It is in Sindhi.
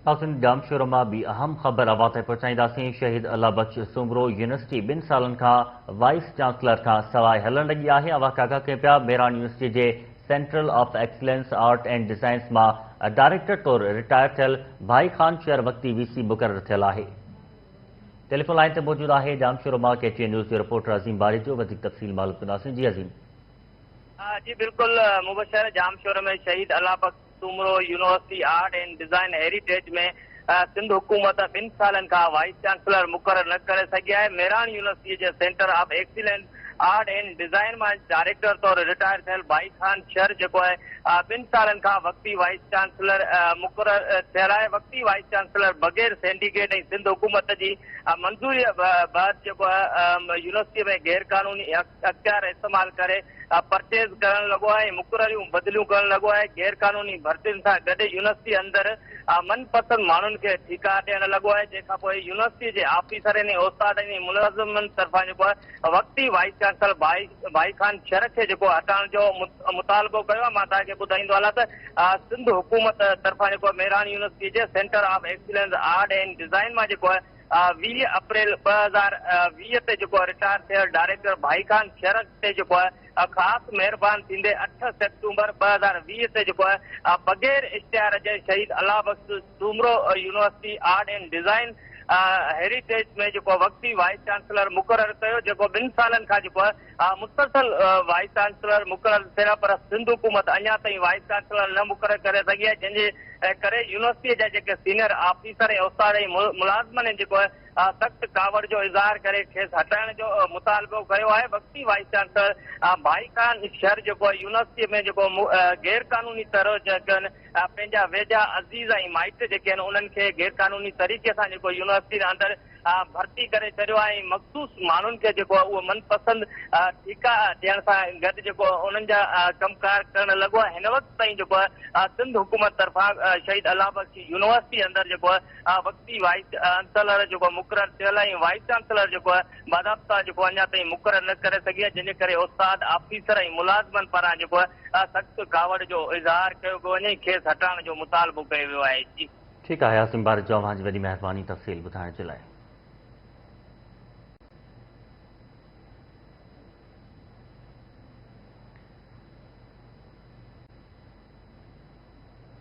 ناظرين ڄامشورو مان ٻي اهم خبر اوهان تائين پهچائينداسين، شهيد الله بخش سومرو يونيورسٽي ٻن سالن کان وائيس چانسلر کان سواء هلڻ لڳي آهي، اوهان ڪاڪا ڪين پيا، ميراڻ يونيورسٽي جي central of excellence art and designs مان ڊائريڪٽر طور رٽائر ٿيل ڀائي خان شير وقتي وي سي مقرر ٿيل آهي. ٽيليفون لائين تي موجود آهي ڄامشورو مان ڪي ٽي اين نيوز جو رپورٽر عظيم باريجو وڌيڪ تفصيل معلوم ڪنداسين جي عظيم. جي بلڪل مبشر Jamshoro ۾ Shaheed Allah Bux. Soomro university art and design heritage ۾ Sindh حڪومت ٻن سالن کان وائيس چانسلر مقرر نه ڪري سگهي آهي، ميراڻ يونيورسٽيء جي center of excellence art and design مان ڊائريڪٽر طور رٽائر ٿيل ڀائي خان شر جيڪو اهي ٻن سالن کان وقتي وائيس چانسلر مقرر ٿيل آهي، وقتي وائيس چانسلر بغير سينڊيڪيٽ ۽ سنڌ حڪومت جي منظوريء بعد جيڪو يونيورسٽيء ۾ غيرقانوني اختيار استعمال ڪري پرچيز ڪرڻ لڳو آهي ۽ مقرريون بدليون ڪرڻ لڳو آهي، غير قانوني ڀرتين سان گڏ يونيورسٽي اندر من پسند ماڻهن کي ٺيڪا ڏيڻ لڳو آهي، جنهن کانپوء يونيورسٽي جي آفيسرن ۽ استادن ۽ ملازمن طرفان جيڪو آهي وقتي وائيس چانسلر ڀائي خان شرڪ کي جيڪو هٽائڻ جو مطالبو ڪيو آهي، مان توهان کي ٻڌائيندو هلان ته سنڌ حڪومت طرفان جيڪو ميراڻ يونيورسٽي جي center of excellence art and design مان جيڪو آهي ويهه اپريل ٻه هزار ويهه تي جيڪو رٽائر ٿيل ڊائريڪٽر ڀائي خان شرڪ تي جيڪو خاص مهربان ٿيندي اٺ سيپٽمبر ٻه هزار ويهه تي جيڪو بغير اشتهار جي Shaheed Allah Bux Soomro university art and design heritage ۾ جيڪو وقتي وائيس چانسلر مقرر ڪيو جيڪو ٻن سالن کان جيڪو مسلسل وائيس چانسلر مقرر ٿيا پر سنڌ حڪومت اڃا تائين وائيس چانسلر نه مقرر ڪري سگهي آهي جنهن جي ڪري يونيورسٽي جا جيڪي سينئر آفيسر ۽ استاد ۽ ملازمن هن جيڪو سخت ڪاوڙ جو اظهار ڪري کيس هٽائڻ جو مطالبو ڪيو آهي وقتي وائيس چانسلر ڀائي خان شر جيڪو يونيورسٽي ۾ جيڪو غير قانوني طرح جيڪي آهن پنهنجا ويجها عزيز ۽ مائٽ جيڪي آهن انهن کي غير قانوني طريقي سان جيڪو يونيورسٽي اندر ڀرتي ڪري ڇڏيو ۽ مخصوص ماڻهن کي جيڪو آهي اهو من پسند ٺيڪا ڏيڻ سان گڏ جيڪو انهن جا ڪم ڪار ڪرڻ لڳو آهي هن وقت تائين جيڪو آهي سنڌ حڪومت طرفان شهيد الله بخش يونيورسٽي اندر جيڪو آهي وقتي وائيس چانسلر جيڪو مقرر ٿيل ۽ وائيس چانسلر جيڪو آهي باضابطا جيڪو اڃا تائين مقرر نه ڪري سگهي جنهن جي ڪري استاد آفيسر ۽ ملازمن پاران جيڪو آهي سخت ڪاوڙ جو اظهار ڪيو پيو وڃي کيس هٽائڻ جو مطالبو ڪيو ويو آهي ٺيڪ آهي عاصم بارجو اوهان جي وڏي مهرباني تفصيل ٻڌائڻ جي لاء.